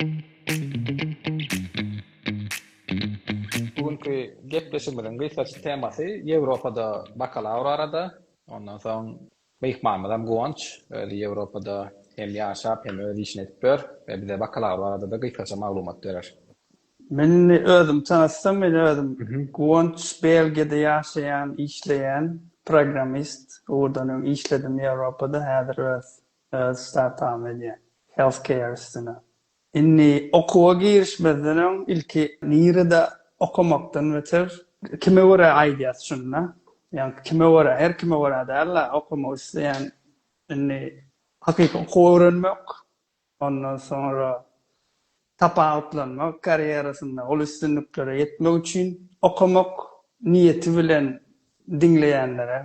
Bu günki gepleşigimiziň gysgaça temasy Ýewropada bakalawr arada. Ondan soň myhmanymyzam Guwanç, özi Ýewropada hem ýaşap, hem öz işini edip ýör we bize bakalawr barada-da gysgaça maglumat berer. Men özümi tanatsam, men özüm Guwanç, Belgiýada ýaşaýan, işleýän, programmist, ugurdan öň işledim Ýewropada, häzir öz Öz startup-ym edýän. Health care üstüne. Indi okuwa girişmezden öň ilki nirede okamakdan beter kime görä aýdýas şunda. Ýagny kime görä, her kime görä däl-de okamak isleýän indi hakyky okuw öwrenmek, ondan soňra tapawutlanmak karýerasynda, uly üstünliklere ýetmek üçin okamak niýeti bilen diňleýänlere.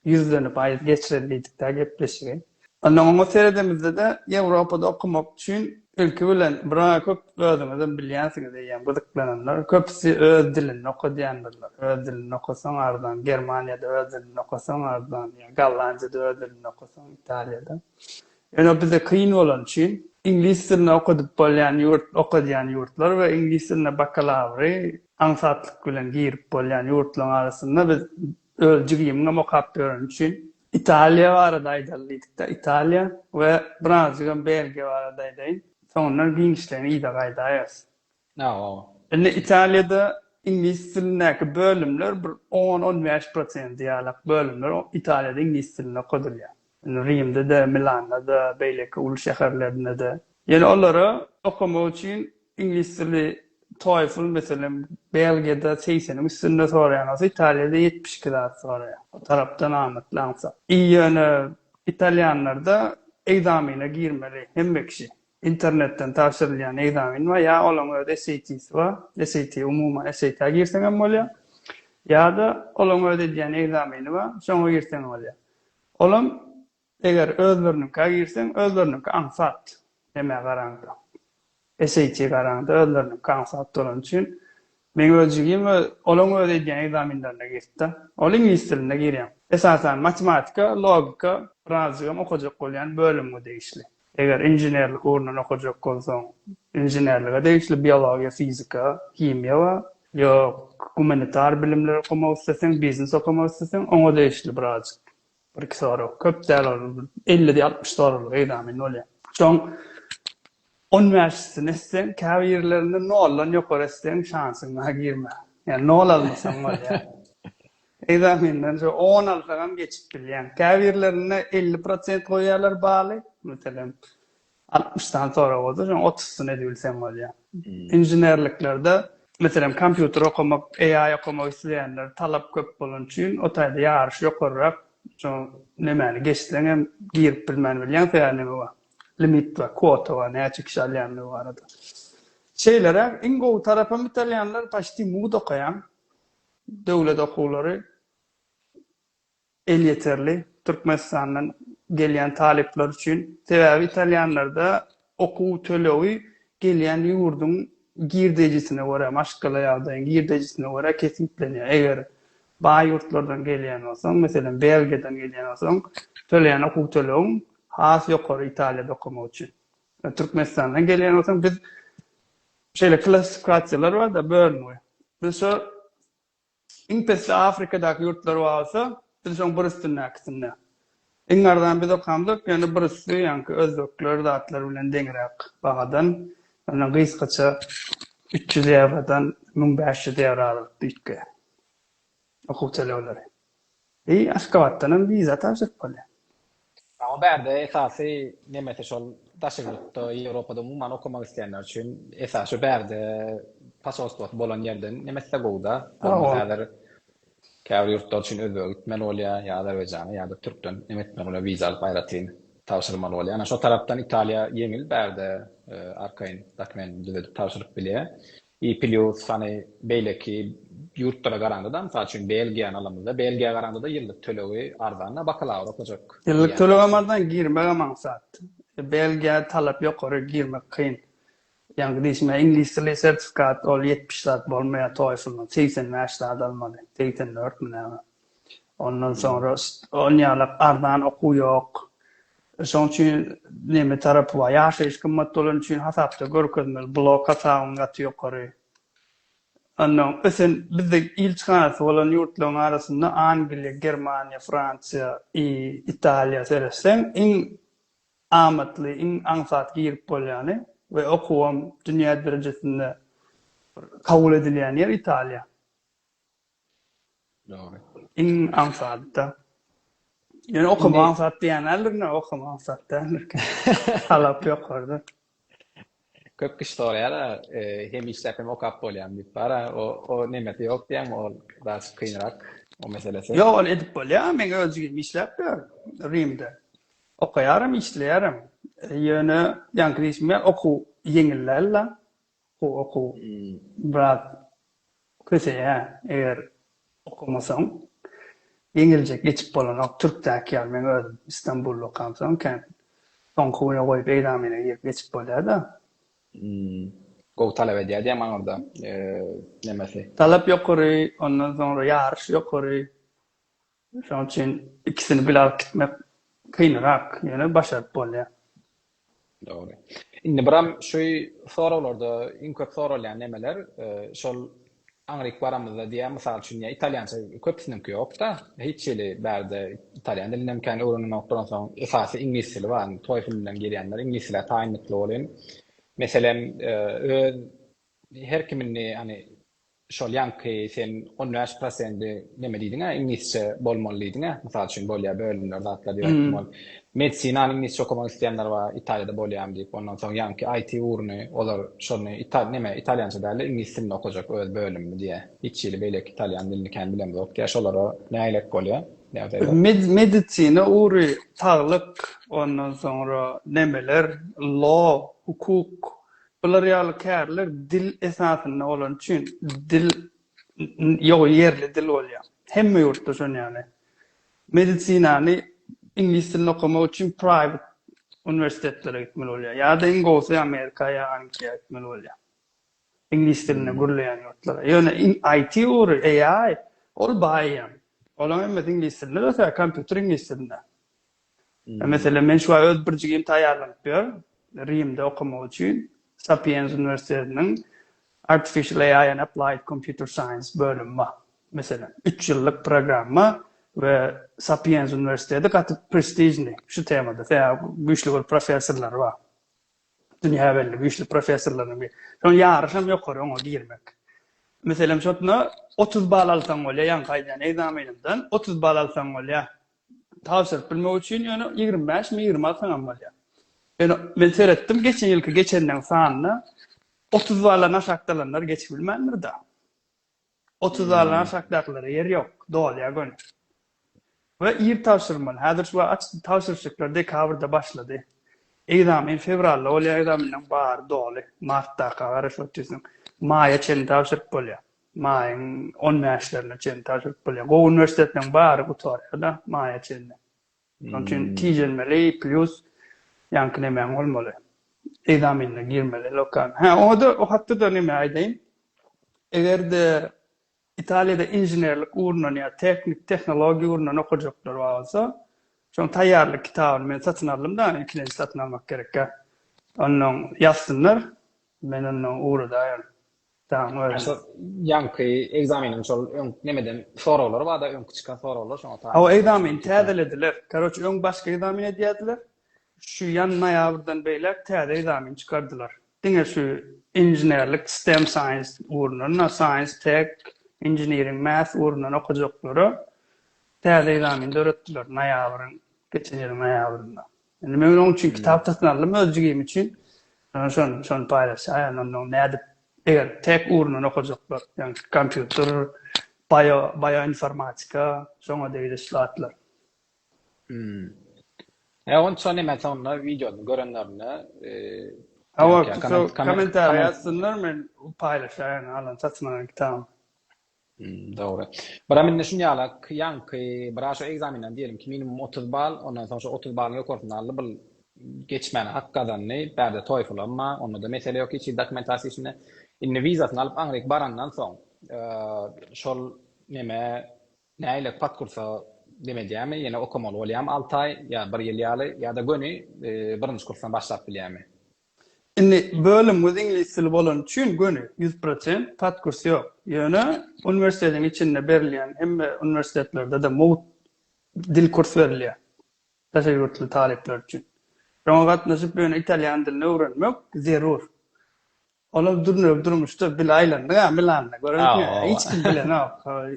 Ýüzlenip aýdyp geçireli diýdik-dä gepleşigi. Ondan oňa seredemizde-de Ýewropada okamak üçin ilki bilen biraý köp özüňizem bilýänsiňiz eýýäm gyzyklananlar köpüsi öz dilinde oka diýendirler. Öz dilinde okasaň arzan, Germaniýada öz dilinde okasaň arzan, ýa Gollandiýada öz dilinde okasaň, Italiýada. Ýöne bize kyn bolany üçin iňlis dilinde okadyp bolýan ýurt, oka diýen ýurtlar we iňlis dilinde bakalawry aňsatlyk bilen girip bolýan ýurtlaryň arasynda biz Öz jigimiňem okap ýöreni üçin Italiýa barada aýdaly diýdikde Italiýa we birazjygam Belgiýa barada aýdaýyn. Soňundan giňişleýin yza gaýdaýarys. Sag bol. Indi Italiýada iňlis dilindäki bölümler bir on-on bäş prosenti ýalak bölümler Italiýada iňlis dilinde okadylýar. Indi Rimde-de, Milanda-da, beýleki uly şäherlerinde-de. Ýöne olara okamak üçin iňlis dili, TOEFL, meselem, Belgiýada segseniň üstünde soraýan bolsa, Italiýada ýetmiş iki zat soraýar. O tarapdan amatly aňsat. I ýöne italýanlarda ekzamene girmeli hemme kişi. Internetden tabşyrylýan ekzamen bar, ýa olaň öz SAT-si bar, SAT, umuman SAT-a girseňem bolýar, ýa-da olaň öz edýän ekzameni bar, şoňa girseň bolýar. Olam eger özleriniňkä girseň özleriniňki aňsat nämä garaňda. SAT garaňda özleriniňki aňsat bolany üçin meň öz jigim we olaň öz edýän ekzaminlerine girtda. Ol iňlis dilinde girýän. Esasan matematika, logika birazjygam okajak bolýan bölümge degişli. Eger inženerlik ugrundan okajak bolsaň, inženerlige degişli biologiýa, fizika, himiýa bar. Ýok, gumanitar bilimler okamak isleseň, biznes okamak isleseň, oňa degişli birazjyk, bir-iki sorag, köp däl ol, bir elli, altmyş soraglyk egzamin bolýar. Şoň on bäşisini etseň, käbir ýerlerinde noldan ýokary etseň, şansyň bar, girme. Ýa nol almasaň bolýar. Ekzamendanja on alsagam geçip bilýäň. Käbirlerinde elli prosent goýýarlar baly. Meselem, altmyş sany sorag bolsa, şonuň otuzysyny edibilseň bolýar. Inženerliklerde, meselem, kompýuter okamak, AI okamak isleýänler talap köp bolany üçin, o taýda ýaryş ýokaryrak. Şo nemäni geçseň hem girip bilmän bilýäň, sebäbi neme bar, limit bar, kwota bar, näçe kişi alýandygy barada. Şeýleräk, iň gowy tarapam italýanlar paçti mugt okaýan. Döwlet okuwlary elýeterli Türkmenistandan gelýän talyplar üçin. Sebäbi italýanlarda okuw tölegi gelýän ýurduň girdejisine görä, maşgala ýagdaýyň girdejisine görä kesgitlenýär. Eger baý ýurtlardan gelýän bolsaň, meselem, Belgiýadan gelýän bolsaň, töleýän okuw tölegiň has ýokary Italiýada okamak üçin. Türkmenistandan gelýän bolsaň, biz şeýle klassifikasiýalar bar-da, bölüngi. Biz şu iň pesli Afrikadaky ýurtlar bar bolsa, biz şoň bir üstündäkisinde. Iň arzan biz okamzok, ýöne bir üsti, ýaňky özbekler zatlar bilen deňräk bahadan, ýöne gysgaça üç ýüz ýewrodan müň bäş ýüz ýewro aralyk düýtge. Okuw tölegleri. I Aşgabatdanam wiza tabşyryp bolýar. Ýa o bärde esasy nemesi şol daş ýurtda Ýewropada umuman okamak isleýänler üçin esasy şu bärde posolstwosy bolan ýerden nemesse gowuda. Bolmasa häzir käbir ýurtlar üçin özbege gitmeli bolýar ýa azerbaýjana ýa-da türkden neme etmeli bolýar wiza alyp aýratyn tabşyrmaly bolýar. Ýöne şo tarapdan Italiýa ýeňil bärde arkaýyn dokumentini düzedip tabşyryp bilýär. I plýus hany beýleki ýurtlara garandada mysal üçin Belgiýany alamyzda Belgiýa garandada ýyllyk tölegi arzanda bakalawr okajak. Ýyllyk tölegem arzan girmegem aňsat. Belgiýa talap ýokary girmek kyn. Ýaňky diýşime iňlis dili sertifikat ol ýetmiş zat bolmaýa toýflnyň segsen bäş zat almaly segsen dört mi näme. Ondan soňra ol ýaly arzan okuw ýok. Şoň üçin neme tarapy bar? Ýaşaýyş gymmat bolany üçin hasapda görkezmeli blok hasabyň gaty ýokary. Ondan ösen bizde ilçihanasy bolan ýurtlaryň arasynda Angliýa, Germaniýa, Fransiýa, I, Italiýa seretseň iň amatly, iň aňsat girip bolýany we okuwam dünýä derejesinde bir kabul edilýän ýer Italiýa. Iň aňsat-da. Ýöne okamagy aňsat diýenlerine okamagy aňsat däldir. Talap ýokarydyr. Köp kişi soraýar, hem işläp, hem okap bolýarmy diýip. Bar-a, o nemesi ýok diýýärmi, ol biraz kynrak, o meselesi. Ýok, ony edip bolýar. Men özüm işläp ýörün Rimde. Okaýarym, işleýärin. Ýöne ýaňky diýşim ýaly, okuw ýeňil däl-de. Bu okuw biraz köseýä eger okamasaň ýeňiljek geçip bolanok türkdäki ýaly meň özüm istanbulda okamsoň kän soňky güne goýup egzamine girip geçip bolýada. Gowy talap edýär diýýän maňa onda nemesi. Talap ýokary ondan soňra ýaryş ýokary. Şonuň üçin ikisini bile alyp gitmek kynrak, ýöne başaryp bolýar. Dogry. Indi Bram şu soraglarda iň köp soralýan nemeler, şol aňryk baramyzda diýýär, mysal üçin ýa italýança köpüsiniňki ýok-da, hiç hili bärde italýan dilinem kän öwrenilmok, duransoň esasy iňlis dili bar, indi TOEFL bilen girýänler iňlis dilä taýynlykly bolýan. Meselem, öz her kim indi hany Şol ýaňky sen on bäş prosenti neme diýdiňä iňlisçe bolmaly diýdiňä mysal üçin bolýa bölümler zatlar diýip aýtdym ol medisinany iňlisçe okamak isleýänler bar italiýada bolýamy diýip ondan soň ýaňky it ugruny olar şony ital neme italýança dälde iňlis dilinde okajak öz bölümini diýä hiç hili beýleki italýan dilini kän bilemzok diýä şolara nägerek bolýa ýagdaýlar. Medisina ugry saglyk ondan soňra nemeler law hukuk Bular ýaly kärler dil esasynda bolany üçin dil ýogy ýerli dil bolýar. Hemme ýurtda şon ýaly. Medisinany iňlis dilinde okamak üçin private uniwersitetlere gitmeli bolýar. Ýa-da iň gowusy Amerika ýa Angliýa gitmeli bolýar. Iňlis dilinde gürleýän ýurtlara. Ýöne IT ugry, AI ol baý ýaly. Olaň hemmesi iňlis dilinde, kompýuter iňlis dilinde. Meselem, men şu aý öz birjigimi taýýarlanyp ýör, Rimde okamak üçin Sapienza uniwersitetiniň Artificial AI and Applied Computer Science bölümi bar. Meselem, üç ýyllyk programma we Sapienza uniwersiteti gaty prestižnyý şu temada, sebäbi güýçli bir professorlary bar. Dünýä belli güýçli professorlarynyň biri. Şonuň ýaryşy hem ýokary oňa girmek. Meselem, şotna otuz bal alsaň bolýar, ýaňky aýdýan ekzamenimden otuz bal alsaň bolýar. tabşyryp bilmek üçin ýöne ýigrimi bäşmi ýigrimi alsaňam bolýar ýöne men seretdim geçen ýylky geçenleriň sanyna otuz baldan aşak dalanlar geçip bilmändir da otuz baldan hmm. aşakdakylara ýer ýok dolýar göni we ir tabşyrmaly häzir şu aç tabşyryşyklar dekabrda başlady egzamin fewralda bolýar egzaminden bar doly martda garaşyp otyrsyn maýa çenli tabşyryp bolýar Maýyň on bäşlerine çenli tabşyryp bolýar. Gowy uniwersitetleriň bary gutarýar-da maýa çenli. Şonuň üçin tijenmeli, plýus ýaňky nemäň bolmaly. Ekzamenine girmeli lokalnyý. Hä, oňa-da o hakda-da neme aýdaýyn. Eger-de Italiýada inženerlik ugrundan ýa tehnik tehnologiýa ugrundan okajaklar bar bolsa, şonuň taýýarlyk kitabyny men satyn aldym-da, ilkinji satyn almak gerekkä. Onnoň ýazsynlar, men onnoň ugradaýaryn. Daň özi. Şol ýaňky ekzameniň şol öň nemeden soraglary barda öňki çykan soraglar şoňa taýyn. Hawa ekzameni täzelediler. Karoç öň başga ekzamen edýärdiler. Şu ýan noýabrdan beýläk täze ekzamen çykardylar. Diňe şu inženerlik stem science ugrundan science tech engineering math ugrundan okajaklara täze ekzamen döretdiler noýabryň geçen ýylyň noýabrynda. Indi men onuň üçin kitap satyn aldym öz jigim üçin. Şonda şon şony paýlaşaýan onda nädip eger tek ugrundan okajaklar, ýagny kompýuter, bio bioinformatika, şoňa degişli zatlar. Hmm. E onça näme soňunda wideony görenlerinde e, Hawa, kommentariýa ýazsynlar men paýlaşaýan alan satyn alan kitabym. Dogry. Biraz indi şuny ýala ýaňky biraz şu ekzamenden diýelim ki minimum otuz bal ondan soň şu otuz balyň ýokarsyny aldy bul geçmäne hak gazandy bärde toýfylym bar ondada mesele ýok hiç hili dokumentasiýa işinde indi wizasyny alyp aňryk barandan soň şol neme nägile patkursa dem edýärmi ýene okamaly bolýamy alty aý ýa bir ýyl ýaly ýada göni birinji kursdan başlap bilýärmi. Indi bölümiňiz iňlis dili bolany üçin göni, ýüz prosent, pat kurs ýok. Ýöne uniwersitetiň içinde berilýän hemme uniwersitetlerde-de mugt dil kurs berilýär daşary ýurtly talyplar üçin. Şoňa gatnaşyp, ýöne italýan dilini öwrenmek zerur. Olam dürnegi durmuşda bil aýlandyň-a Milanda, görüpmi? Hiç kim bilenok.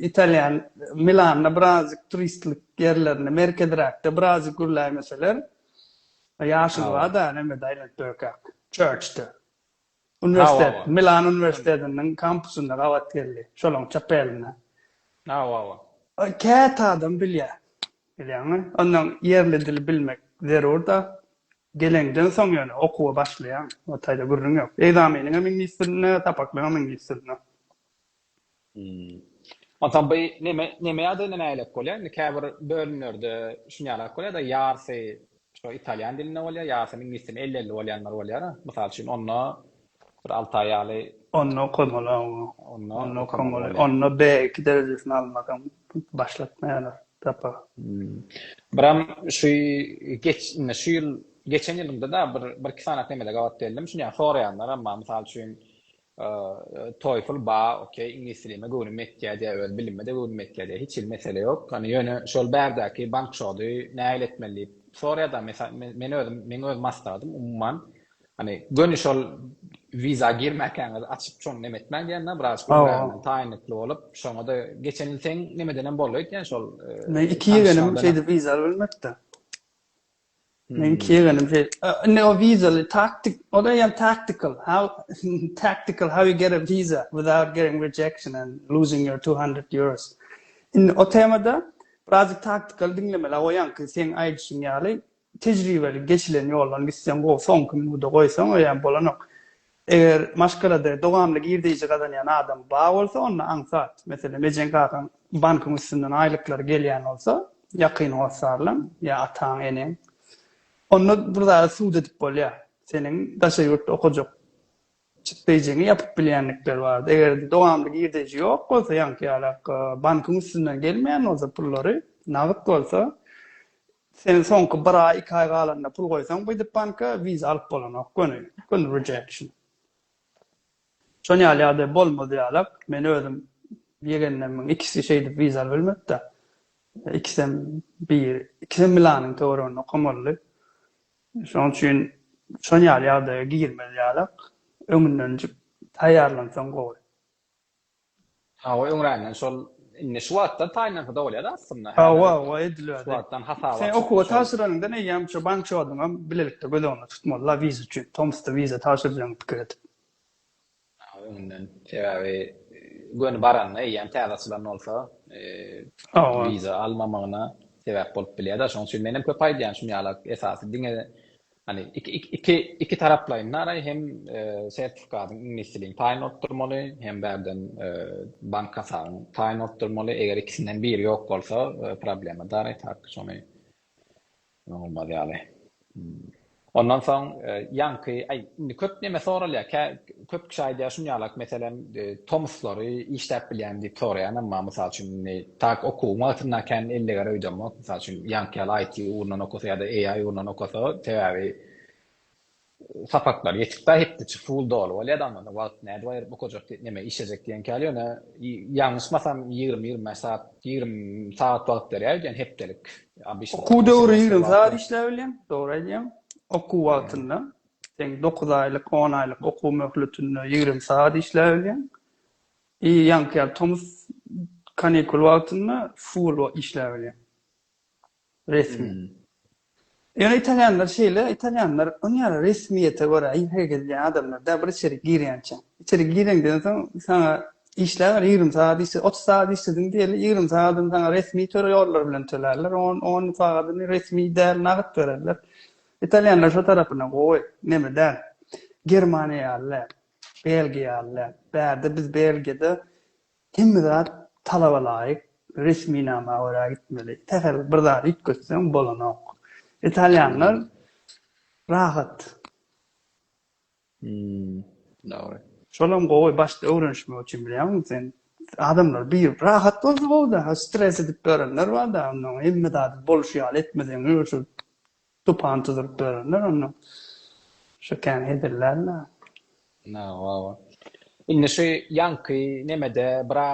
Italýan Milanda birazjyk turistlik ýerlerinde, merkeziräkde birazjyk gürläýmeseler, Ýaşuly bar-da, nämede aýlanyp durarkäk, Çörçde. Uniwersitet, Milan uniwersitetiniň kampusynda gabat geldi, şolaň çep elinde. Hawa-hawa. Käte adam bilýär, bilýäňmi? Onnoň ýerli dili bilmek zerur-da. Geleňden soň ýöne okuwa başlaýaň, o taýda gürrüň ýok. Ekzameniňem iňlis dilinde, sapaklygyňam iňlis dilinde. Masaby neme neme ýagdaýynda nälelik bolýar indi käbir bölümlerde şunýalak bolýada ýarsy şo italýan dilinde bolýar ýarsy iňlis dilinde elli elli bolýanlar bolýara mysal üçin onda bir alty aý ýaly Onda okamaly awa onda okamaly onda b iki derejesini almasam başlatmaýarlar tapa. Biram şu geç indi şu ýyl geçen ýylyňda da bir bir iki sany nemede gabat geldim şunýa soraýanlar emma mysal üçin Toefl ba ok iňlis dilime göwnüm etýä diýä öz bilimime-de göwnüm etýä diýä hiç hili mesele ýok hany ýöne şol bärdäki bank şody nähili etmeli diýip sorýa da men özüm meň öz maslahatym umuman hany göni şol wiza girmäkäňiz açyp şony neme etmäň diýän da biraz göwräňden taýynlykly bolup şoňada geçen ýyl seň nemedenem boldy öýtýän şol men iki ýegenim şeýdip wiza albilmepdi. Men kiýenim şey. Ne o visa taktik, o da ýa tactical. How tactical how you get a visa without getting rejection and losing your 200 euros. Indi o temada biraz tactical diňlemeli goýan ki, sen aýdyşyň ýaly tejribeli geçilen ýoldan gitseň gowy, soňky minuda goýsaň o ýa bolanok. Eger maşgalada dowamly girdeýji gazanýan adam bar bolsa, onda aňsat, meselem, ejeň-kakaň bankyň üstünden aýlyklary gelýän bolsa, ýakyn hossarlaň ýa ataň, eneň, onda bir zada sud edip bolýar. Seniň daşary ýurtda okajak çykdaýjyňy ýapyp bilýänlikleri bardy. Eger-de dowamly girdeýji ýok bolsa, ýaňky ýalak, bankyň üstünden gelmeýän bolsa pullary, nagt bolsa, Sen soňky bir aý iki aý galanda pul goýsaň buýdyp banka wiza alyp bolanok göni göni rejection. Şon ýaly ýagdaý bolmaz ýalak men özüm ýegenlemiň ikisi şeýdip wiza alyp bilmepda. Ikisem bir ikisem milanyň töwereginde okamaldy. Şoň üçin şon ýaly ýagdaýa girmez ýalak öňündenjik taýýarlansaň gowy. Hawa öňränden şol indi şu wagtdan taýynlansa da bolýada aslynda. Hawa hawa edilýärdi. Şu wagtdan hasaba. Sen okuwa tabşyranyňdan eýýäm şu bank şoduňam bilelikde göz öňünde tutmalyla wiza üçin. Tomskda wiza tabşyrjagyňy pikir edip. Hawa öňünden sebäbi göni baranda eýýäm täze açylan bolsa wiza almamagyna sebäp bolup bilýärda şonuň üçin menem köp aýdýan şum ýalak esasy diňe Hani iki iki taraplaýyn naraý hem sertifikadyň iňlis dilini taýyn bolup durmaly hem bärden bank hasabyň taýyn bolup durmaly eger ikisinden biri ýok bolsa problema daraý tak şony bolmaz ýaly ondan soň ýaňky aý indi köp neme soralýar Köp kişi aýdýar şuny ýalak, meselem, tomuslary işläp bilýärmi diýip soraýan, emma, mysal üçin, indi tak okuwyň wagtynda kän elleger öýdemok. Mysal üçin, ýaňky ýaly IT ugrundan okasa ýa-da AI ugrundan okasa, sebäbi sapaklary ýetikdä, hepdeçe full doly bolýar-da, onda onda wagty nädip aýryp okajak diýip, näme işlejek diýenki ýaly, ýöne ýalňyşmasam ýigrimi-ýigrimi bäş sagat, ýigrimi sagat wagt berýär öýdýän hepdelik. Okuw döwri ýigrimi sagat işläp bilýän, dogry aýdýaň, okuw wagtynda. Sen dokuz aýlyk, on aýlyk okuw möhletinde ýigrimi sagat işläbilýäň. I ýaňky ýaly tomus kanikul wagtynda full wagt işläbilýäň. Resmi. Ýöne italýanlar şeýle, italýanlar onuň ýaly resmiýete görä hereket edýän adamlar däl, bir içerik girýänçä. Içerik gireňden soň saňa işläber, ýigrimi sagat işle, otuz sagat işlediň diýeli, ýigrimi sagadyny saňa resmi töre ýollar bilen tölärler, on on sagadyny resmi däl, nagt bererler. Italýanlar şo tarapyna gowy, neme däl. Germaniýa ýaly däl. Belgiýa ýaly däl. Bärde biz Belgiýada hemme zat talaba laýyk, resminama görä gitmeli. Sähel bir zat üýtgetseň bolanok. Italýanlar rahat. Dogry. Şolam gowy başda öwrenişmek üçin bilýäňmi sen adamlar bir rahat bolsa gowy da stres edip börenler bar da ondan hemme zady bolşy ýaly etmeseň şu tupan tuzuryp börenler ondan şu kän hezillärler. Na wa wa. Indi şu ýaňky nemede bira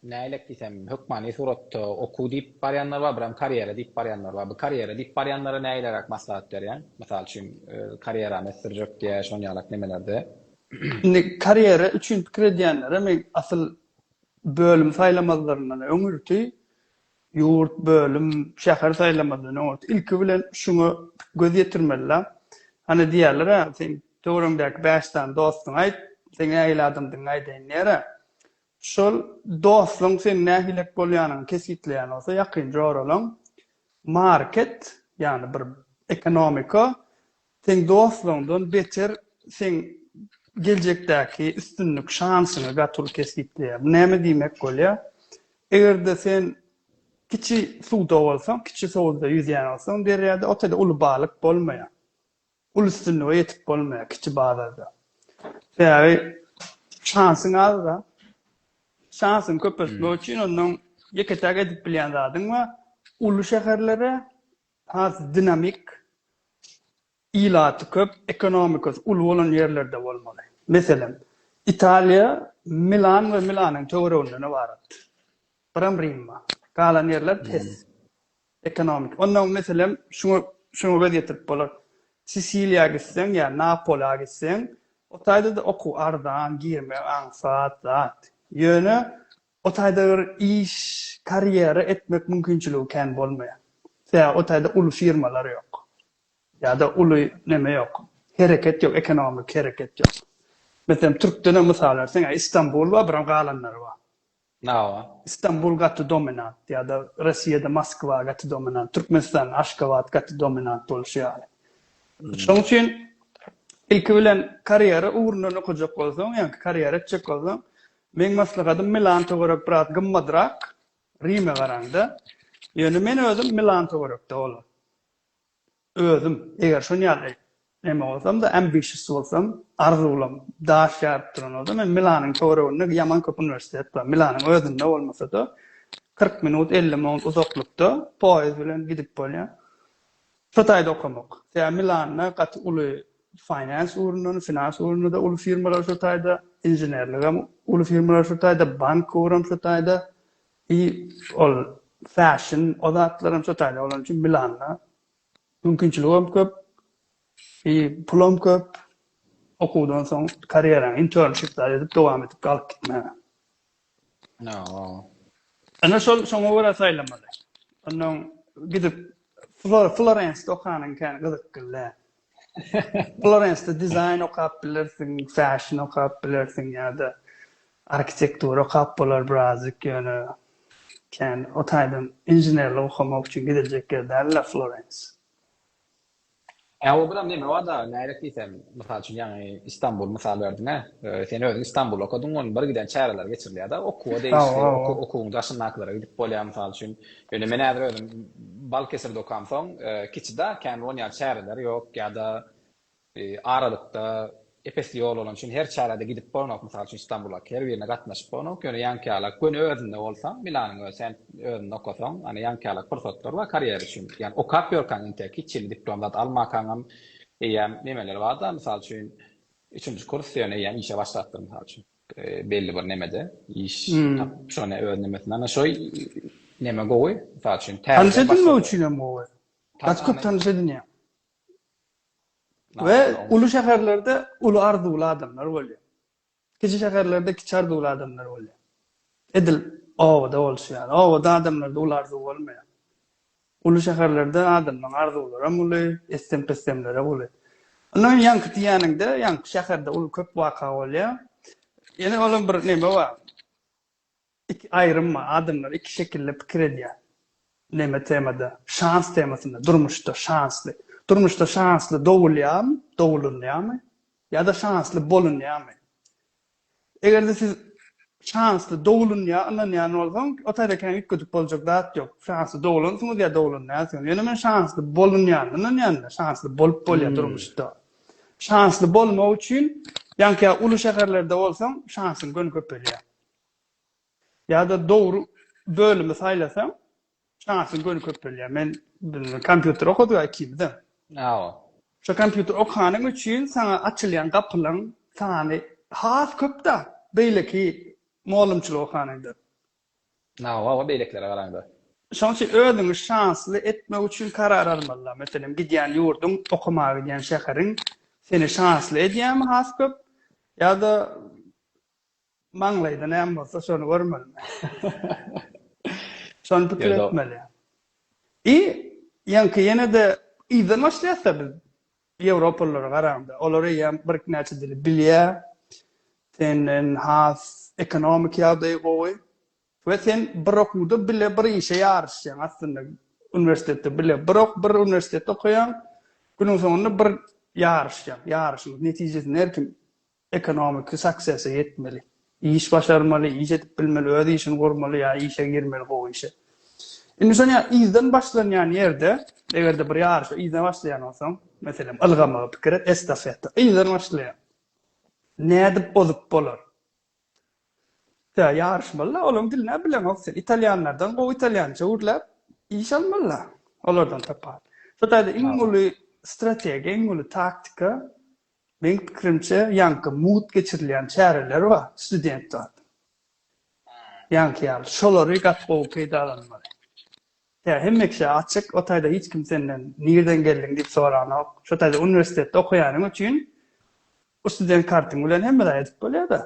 nälet diýsem, hökmany suratda okuw diýip barýanlar bar, biram karýera diýip barýanlar bar. Bu karýera diýip barýanlara näleräk maslahat berýäň? Mysal üçin, karýerany ösdürjek diýe şon ýalak nemelerde. Indi karýera üçin pikir edýänlere men asyl bölüm saýlamazlaryndan öňürti Ýurt, bölüm, şäher saýlamaly, nobat, ilki bilen şuňa göz ýetirmeli-la. Hany diýerler-ä, seň töweregiňdäki bäş sany dostuňa aýt, seň nähili adamdygyňy aýdaýyn diýer-ä. Şol dostuň seniň nähilek bolýanyňy kesgitleýän bolsa, ýakynja oralan market, ýagny bir ekonomiko, Seň dostlaryňdan beter seň geljekdäki üstünlik şansyňy gaty uly kesgitleýär. Bu näme diýmek bolýar? Eger-de sen kiçi suwda bolsaň, kiçi suwda ýüzýän bolsaň derýada, o tada uly balyk bolmaýar. Uly üstünlige ýetip bolmaýar kiçi bazarda. Sebäbi şansyň az-da. Şansyňy köpeltmek üçin ondan ýeke-täk edip bilýän zadyň bar. Uly şäherlere, Has dinamik, ilaty köp, ekonomikasy uly bolan ýerlerde bolmaly. Meselem, Italiýa Milan we Milanyň töwereginden ybarat. Biram Rimma. Galan ýerler pes. Ekonomik. Onnoň meselem şuňa şuňa göz ýetirip bolar. Sisiliýa gitseň ýa Napola gitseň, o taýda-da okuw arzan, girmek aňsat zat. Ýöne O taýda bir iş, karýera etmek mümkinçiligi kän bolmaýar. Sebäbi o taýda uly firmalar ýok. Ýa-da uly neme ýok, hereket ýok, ekonomiki hereket ýok. Meselem, türkdenem mysal berseň, a Istanbul bar, biram galanlary bar. Hawa. Istanbul gaty dominant ýa-da Rossiýada Moskwa gaty dominant, Türkmenistanda Aşgabat gaty dominant bolşy ýaly. Şonuň üçin ilki bilen karýera ugrundan okajak bolsaň, ýa-da karýera etjek bolsaň, Meň maslahatym Milan töwerek biraz gymmadrak Rime garaňda. Ýöne men özüm Milan töwerekde bolar. Özüm eger şon ýaly neme bolsamda ambitious bolsam arzuwlam daş ýaryp duran bolsa men Milanyň töwereginde ýaman köp uniwersitet bar. Milanyň özünde bolmasada kyrk minut elli minut uzaklykda poýez bilen gidip bolýar. Şu taýda okamak. Sebäbi Milanda gaty uly finance ugrundan, finans ugrunda-da uly firmalar şu taýda, inženerligem uly firmalar şu taýda, bank ugram şu taýda i ol fashion o zatlaram şu taýda. Olar üçin Milanda mümkinçiligem köp i pulam köp. Okuwdan soň karýeraň internshipler edip dowam edip galyp gitmäge. Ine şol şoňa görä saýlamaly. Ondan gidip Florensde okanyň kän gyzykly. Florensde dizaýn okap bilersiň, fashion okap bilersiň ýa-da arhitektura okap bolar birazjyk, ýöne kän o taýdan inženerlik okamak üçin gidiljek ýer däl-le Florens. Ä o biram neme bar dagy nädip diýsem mysal üçin ýaňy Istanbul mysal berdiňä sen özüň Istanbul okadyň ony bir giden çäreler geçirilýär dagy okuwa degişli okuwyň daşyndakylara gidip bolýar mysal üçin ýöne men häzir özüm Balkesirde okam soň kiçi dagy kän onýaly çäreler ýok ýa-da aralykda Epesli ýol bolany üçin her çärede gidip bolanok, mysal üçin Stambula her birine gatnaşyp bolanok, ýöne ýaňkyýalak göni özünde bolsa, Milanyň özi hem özünde okasaň, ýöne ýaňkyýalak pursatlar bar karýera üçin, ýöne okap ýörkäň intek hiç hili diplom zat almakaňam eýýäm nemeler barda, mysal üçin üçünji kurs, ýöne eýýäm işe başlapdyr mysal üçin belli bir nemede iş tapyp şony öz nemesinde ana şo neme gowy, mysal üçin täze başlady. Tanyş edinmek üçin hem gowy. Gaty köp tanyş edinýäň. We uly şäherlerde uly arzuwly adamlar bolýar. Kiçi şäherlerde kiçi arzuwly adamlar bolýar. Edil obada bolşy ýaly. Obada adamlarda uly arzuw bolmaýar. Uly şäherlerde adamlaryň arzuwlaram uly, issem-pissemlerem uly. Ondan öň ýaňky diýýäniňde, ýaňky şäherde uly köp waka bolýar. Ýene olam bir neme bar. Iki aýrym bar, adamlar iki şekilde pikir edýär. Neme temada? Şans temasynda, durmuşda şansly. Durmuşda şansly dogulýarmy, dogulunýarmy? Ýa-da şansly bolunýarmy? Eger-de siz şansly dogulunýar ynanýan bolsaň, o taýdakäň üýtgedip boljak zat ýok. Şansly dogulansyňyz ýa dogulunýarsyňyz. Ýöne men şansly bolunýanyna ynanýan-da, şansly bolup bolýar durmuşda. Şansly bolmak üçin, ýaňky ýaly uly şäherlerde bolsaň, şansyň göni köpelýär. Ýa-da dogry bölümi saýlasaň, şansyň göni köp bolýar. Men kompýuter okadyk-a ikimiz-de. Hawa. Şo kompýuter okanyň üçin saňa açylýan gapylaryň sany has köp-dä, beýleki mugallymçylyk okanyňdan. Hawa, hawa, beýlekilere garaňda. Şonuň üçin özüňi şansly etmek üçin karar almaly-da. Meselem, gidýän ýurduň, okamaga gidýän şäheriň seni şansly edýärmi has köp, ýa-da Maňlaýda näme bolsa şony görmeli. Şony pikir etmeli. I ýaňky ýene-de yzdan başlaýasda biz ýewropalylara garanda. Olar eýýäm bir näçe dili bilýär. Senden has ekonomik ýagdaýy gowy. We sen bir okuwda bile bir işe ýaryşýaň aslynda. Uniwersitetde bile bir ok bir uniwersitetde okaýaň. Günüň soňunda bir ýaryşýaň. Ýaryşyň netijesini her kim Ekonomiki success-e ýetmeli. Iş başarmaly, iş edip bilmeli, öz işini gurmaly ýa işe girmeli gowy işe. Indi şony ýa yzdan başlanýan ýerde, eger-de bir ýaryşa yzdan başlaýan bolsaň, meselem, ylgamagy pikir et, estafeta, yzdan başlaýaň. Nädip ozup bolar? Tä ýaryşmaly-la, olaryň dilini-ä bileňok sen. Italýanlardan gowy italýança gürläp, iş almaly-la, olardan tapawuly. Şo taýda iň uly strategiýa, iň uly taktika, Meň pikirimçe ýaňky mugt geçirilýän çäreler bar student zat ýaňky ýaly şolary gaty gowy peýdalanmaly tä hemme kişä açyk o taýda hiç kim senden nirden geldiň diýip soranok şo taýda uniwersitetde okaýanyň üçin bu student kartyň bilen hemme zat edip bolýada.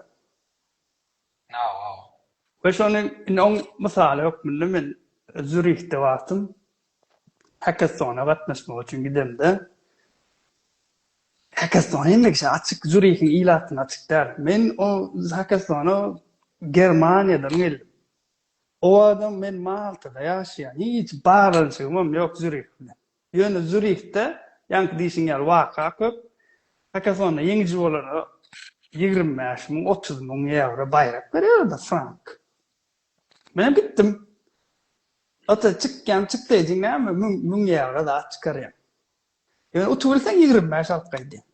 We şony indi oň mysaly hökmünde men Zürihde wagtym Hackathona gatnaşmak üçin gidemde, Hackathon hemme kişä açyk, Zürihiň ilatyna açyk däl. Men o Hackathona Germaniýadan geldim. O wagtam men Maltada ýaşaýan, hiç baglanyşygym hem ýok Zürih bilen. Ýöne Zýurihde, ýaňky diýşiň ýaly, waka köp. Hakatona ýeňiji bolara ýigrimi bäş müň, otuz müň ýewro baýrak berýärler, frank. Menem gitdim. Ata, çykýan çykdaý diýiň, näme, müň, müň ýewro zat çykarýaň. Ýöne utubilseň ýigrimi bäş alyp gaýdýaň.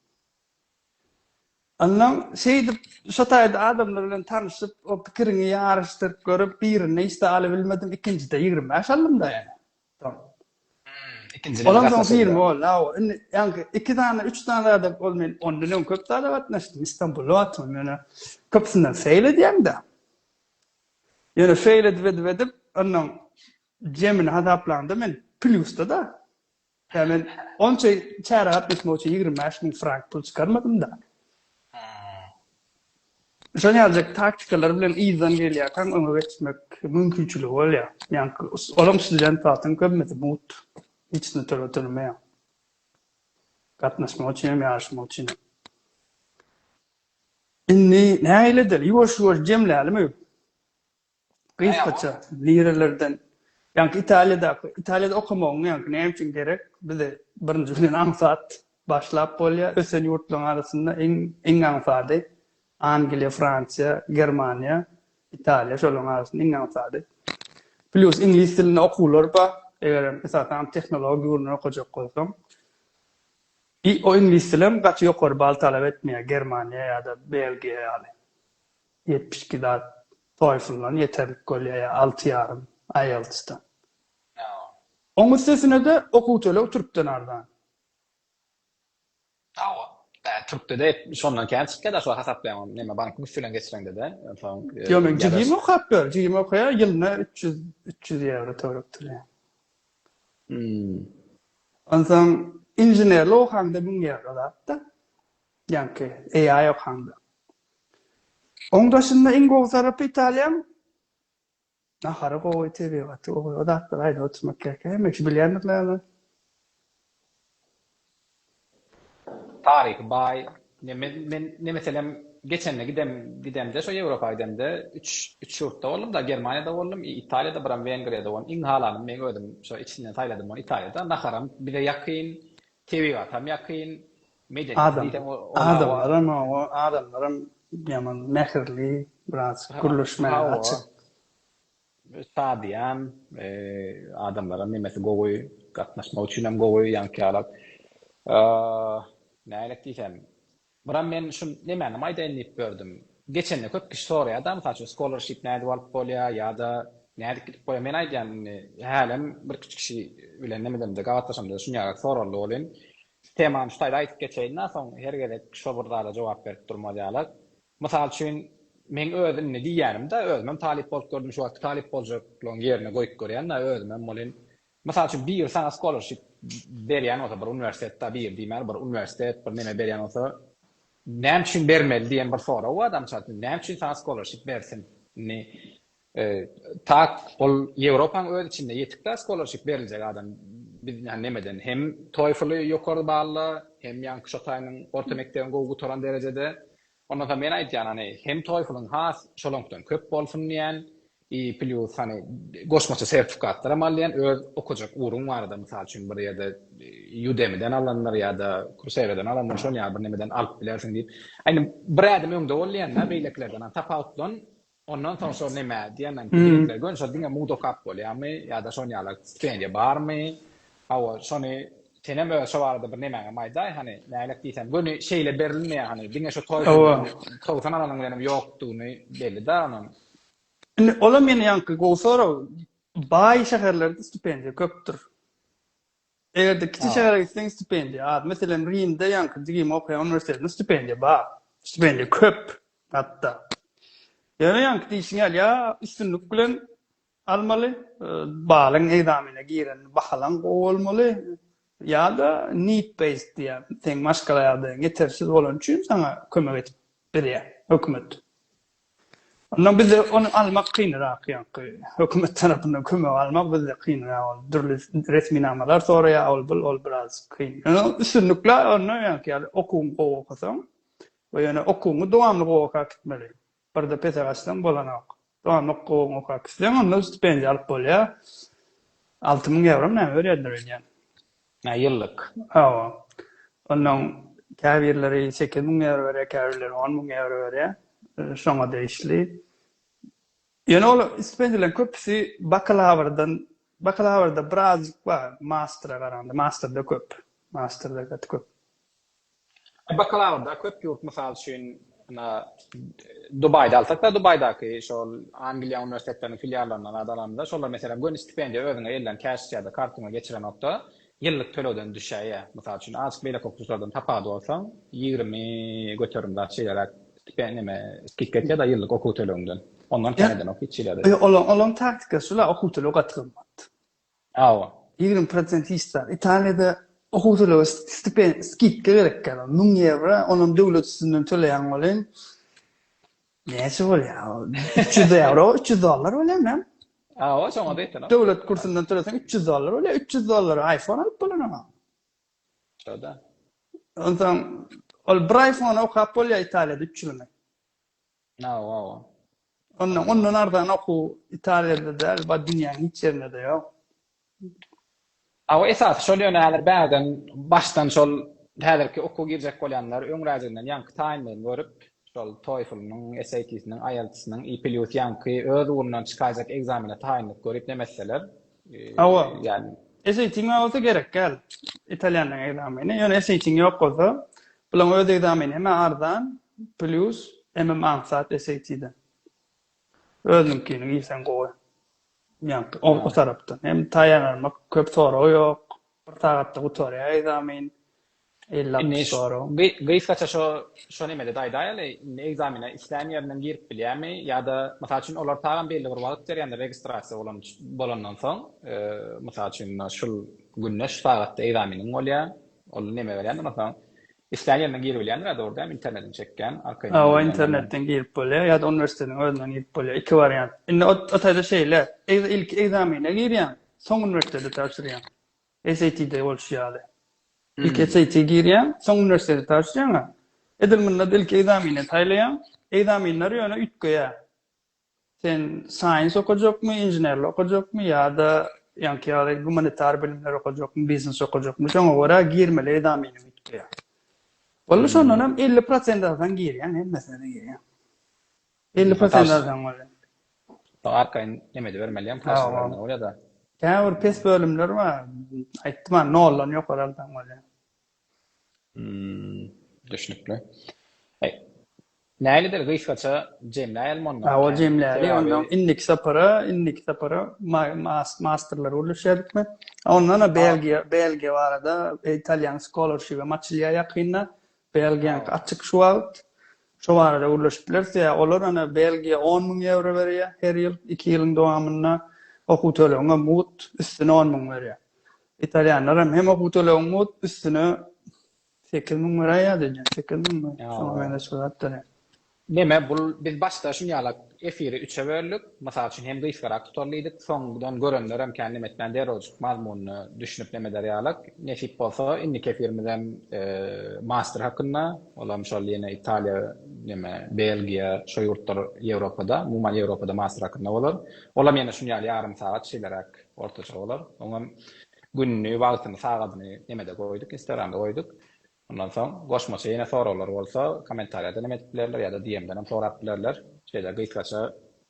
Onnoň şeýdip, şo taýda adamlar bilen tanyşyp, o pikiriňi ýaryşdyryp görüp, birinde hiç zat alybilmedim, ikinjide ýigrimi bäş aldym-da ýöne. Tamam. Ikinjiden Ondan soň film boldy. Awa, indi ýaňky iki sany, üç sany zada ol men ondan öň köp zada gatnaşdym. Istanbulda atym ýöne köpüsinden feýl edýäň-de. Ýöne feýl edip edip edip, ondan jemini hasaplanda men plýusda-da. Ýa men onça çärä gatnaşmak üçin ýigrimi bäş müň frank pul çykarmadym-da. Şol ýaly taktikalar bilen yzdan gelýärkäň öňe geçmek mümkinçiligi bolýar. Ýagny olam student wagtyň köpmesi mugt. Hiç ne töleg tölemeýär. Gatnaşmak üçin hem ýaryşmak üçin hem. Indi nähili edeli? Ýuwaş-ýuwaş jemlälimi? Gysgaça, nirelerden? Ýaňky Italiýadaky, Italiýada okamagyň ýaňky näme üçin gerek? Bizde birinji bilen aňsat başlap bolýar. Ösen ýurtlaryň arasynda iň, iň aňsady Angliýa, Fransiýa, Germaniýa, Italiýa şolaryň arasynda iň aňsady. Plyus iňlis dilinde okuwlar bar, egerem esasanam tehnologik ugurdan okajak bolsaň. I o iňlis dilem gaty ýokary bal talap etmeýär, Germaniýa ýa-da Belgiýa ýaly. Ýetmiş iki zat TOEFL-dan ýeterlik bolýar ýa alty ýarym IELTS-den. Oň üstesine-de okuw töleg türkden arzan. Hawa, türkde-de şondan kän çykýar daşy we hasaplaýaň neme bankyň üsti bilen geçireňde-de soň. Ýok, men jigim okap ýör, jigim okaýar, ýylyna üç ýüz, üç ýüz ýewro töläp durýar. Onsoň inženerlik okaňda müň ýewro zat-da. Ýaňky AI okanda. Oň daşynda iň gowy tarapy Italiýaň nahary gowy, tebigaty gowy. O zatlary aýdyp oturmak gerek. Hemme kişi bilýändir näme. Taryhy baý. Men men ne meselem geçende gidem gidemde şo Ýewropa gidemde üç üç ýurtda boldum-da, Germaniýada boldum, Italiýada biram Wengriýada boldum. Iň halanym meň özüm şo içinden saýladym ony Italiýada. Naharam bize ýakyn, tebigatam ýakyn. Adam, adamlaram oňa, adamlaram ýaman mähirli, biraz gürleşmäge açyk. Şadyýan, adamlaram nemesi gowy, gatnaşmak üçinem gowy, ýaňkyýalak. Nälet diýsem, buram men şu nemänem aýdaýyn diýip gördüm. Geçende köp kişi soraýar-da, mysal üçin, scholarship nädip alyp bolýar ýa-da nädip gidip bolýar. Men aýdýan indi, hälem birküç kişi bilen nemedemde, gabatlaşamda-da şuny ýaly soraldy welin, Şu temany şu taýda aýdyp geçeýin-dä, soň her gezek şo bir zada jogap berip durmaz ýaly. Mysal üçin, meň öz indi diýýänim-de, özümem talyp bolup gördüm, şu wagtky talyp boljaklygyň ýerine goýup görýän-de, özümem welin, mysal üçin, biri saňa skolarşip berýän bolsa, bir uniwersitet-de, biri diýmäli, bir uniwersitet, bir neme berýän bolsa, näme üçin bermeli diýen bir sorag bar-da, mysal üçin, näme üçin saňa skolarşip bersin? Indi, Tak, ol Ýewropaň öz içinde ýetik da skolarşip beriljek adam biz näme nemeden hem TOEFL-y ýokary balla, hem ýaňky şo taýynyň orta mekdebini gowy gutaran derejede. Ondan soň men aýtýan hany hem TOEFL-yň has şolaňkdan köp bolsun diýän i plýus hany goşmaça sertifikatlaram al diýän öz okajak ugruň barada mysal üçin bir ýerde Udemy-den alandyr ýa-da Coursera-dan alandyr şol ýaly bir nemeden alyp bilersiň diýip. Aýna bir ädim öňde bol diýän da beýlekilerden tapawutlan. Ondan soň şo neme diýenden ýigitler göni şo diňe mugda okap bolýamy ýa-da şon ýaly stipendiýa barmy? Hawa, şony senem öz şo barada bir nemäňem aýdaý hany, nälet diýsem göni şeýle berilmeýär hany, diňe şo toý gününem togsan alanyň bilenem ýokdugyny belli-dä onuň. Indi olam ýene ýaňky gowy sorag. Baý şäherlerde stipendiýa köpdür. Eger-de kiçi şähere gitseň stipendiýa az. Meselem, Rimde ýaňky jigim okaýan uniwersitetinde stipendiýa bar. Stipendiýa köp hatda. Ýöne ýaňky diýşiň ýaly ýa üstünlik bilen almaly, balyň ekzamene girende bahalaň gowy bolmaly ýa-da need based diýýär. Seň maşgala ýagdaýyň ýetersiz bolany üçin saňa kömek edip berýär hökümet. Onda bizde ony almak kynrak ýaňky hökümet tarapyndan kömek almak bizde kynrak ol dürli resminamalar soraýar ol bul ol biraz kyn. Ýöne üstünlikle onda ýaňky ýaly okuwyňy gowy okasaň we ýöne okuwyňy dowamly gowy okap gitmeli. Birde pese gaçsaň bolanok. Dowamly okuwyňy okap gitseň onda stipendiýa alyp bolýar. Alty müň ýewrom näme berýärler öýdýän. Nä ýyllyk? Hawa. Ondan käbirleri sekiz müň ýewro berýär, käbirleri on müň ýewro berýär. Şoňa degişli. Ýöne ol stipendiýalaryň köpüsi bakalawrdan, bakalawrda birazjyk bar, mastra garanda, mastrda köp. Mastrda gaty köp. Bakalawrda köp ýurt mysal üçin Dubaýda alsak-da, Dubaýdaky şol Angliýa uniwersitetleriniň filiallaryndan zat alamyzda, şolar meselem göni stipendiýa özüňe elden cash ýa-da kartyňa geçirenokda ýyllyk tölegden düşäýýär. Mysal üçin azk beýleki okuwçylardan tapawudy bolsaň ýigrimi göterim zat şeýleräk stipen neme skidka etýär da ýyllyk okuw tölegiňden. Ondan kän edenok hiç ýerde. Ýok ol olam taktika şula okuw tölegi gaty gymmat. Hawa. Ýigrimi prosent hiç zat. Italiýada okuwçylara stipen, skidka berekkä ol. Müň ýewro, onam döwlet üstünden töleýäň welin, näçe bolýar ol? Üç ýüz ýewro, üç ýüz dollar bolýarmy näme? Hawa, şoňa-da ýetenok. Döwlet kursundan töleseň, üç ýüz dollar bolýar. Üç ýüz dollara aýfon alyp bolar oňa. Şo-da. Onsoň, ol bir aýfona okap bolýar Italiýada üç ýylyny. Aw, aw. Ondan, ondan arzan okuw Italiýada däl, bar dünýäň hiç ýerinde-de ýok. Aw, esasy şol ýöne häzir bägden, başdan şol häzirki okuwa girjek bolýanlar öňräjiginden ýaňky taýynlygyny görüp, şol TOEFL-nyň, SAT-siniň, IELTS-nyň i plýus ýaňky öz ugrundan çykaýjak ekzamene taýynlyk görip nem etseler, Hawa. Ýa-ni. SAT-ňa bolsa gerekgäl, italýanlaryň ekzameni. Ýöne SAT-iň ýok bolsa, Bulaň öz egzamin eme arzan plýus emem aňsat SAT-den. Özüňkini girseň gowy. Ýaňky o o tarapdan. Hem taýýarlanmak köp sorag ýok. Bir sagatda gutarýar egzamin. Elli altmyş sorag. Bi gysgaça şo şo nemede-de aýdaýaly, indi egzamine islän ýerinden girip bilýärmi ýa-da mysal üçin olar tagam belli bir wagt berýändir registrasiýa bolan bolandan soň, mysal üçin şul günde şu sagatda egzaminiň bolýar. Ol neme berýändir masalan islän ýerinden giri bilýändir ýada bar dämi internetini çekýäň arkaýyndan Hawa internetden girip bolýar ýada uniwersitetiň özünden girip bolýar iki wariant indi ot o taýda şeýle egz ilki egzamine girýäň soň uniwersiteti tabşyrýaň SAT-de bolşy ýaly ilki SAT girýäň soň uniwersiteti tabşyrýaňa edil munda-da ilki egzamine saýlaýaň egzaminler ýöne üýtgeýär Sen science okajakmy, inženerlik okajakmy ýa-da ýaňky ýaly gumanitar bilimleri okajakmy, biznes okajakmy, şoňa görä girmeli edamyny üýtgeýär. Walla şondan hem elli prosent alsaň girýäň, hemmesine de girýäň. Elli prosent alsaň bolýar. Saňa arkaýyn neme edibermeliýem, prosýa bermeli bolýar-da. Käbir pes bölümler bar, aýtdym-a, noldan ýokary alsaň bolýar. Düşnükli. Nälidir gysgaça jemläýelim onda. Hawa, jemläli. Onda indiki sapara, indiki sapara masterler gürleşýädikmi? Onda-da Belgiýa, Belgiýa barada, Italian Scholarship-em açylýar ýakynda. Belgiýanyňky açyk şu wagt. Şo barada gürleşip bileris. Ýa olar ene Belgiýa on müň ýewro berýär her ýyl, iki ýylyň dowamynda okuw tölegiňe mugt üstüne on müň berýär. Italýanlar hem hem okuw tölegiň bolup üstüne 8000 mara ýa-da 8000 mi? Şoňa meňzeş bir zatdyr. Neme bul biz başda şun ýala efiri üçe böldük. Mysal üçin hem gysgarak tutal diýdik. Soňdan görenler hem kän neme etmän derrewjik mazmunyna düşünip neme eder ýalyk. Nesip bolsa indiki efirimiz hem master hakynda. Ol hem şol ýene Italiýa neme Belgiýa şo ýurtlar Ýewropada umuman Ýewropada master hakynda bolar. Ol hem ýene şun ýaly ýarym sagat şeýleräk Ortaça bolar. Oňam gününi, wagtyny, sagadyny nemede goýduk, instagramda goýduk. Ondan soň goşmaça ýene soraglar bolsa kommentariýadan hem edip bilerler ýa-da DM-den hem sorap bilerler. Şeýle gysgaça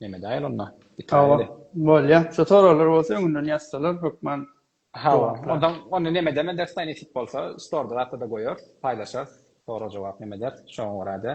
nemedäýeli onda, gitmäýeli. Hawa, bolýar. Şu soraglar bolsa öňünden ýazsalar hökman Hawa, onda ony nemedem ederis daýy nesip bolsa, storda zatda-da goýarys, paýlaşarys, sorag-jogap nemederis, şoňa görä-de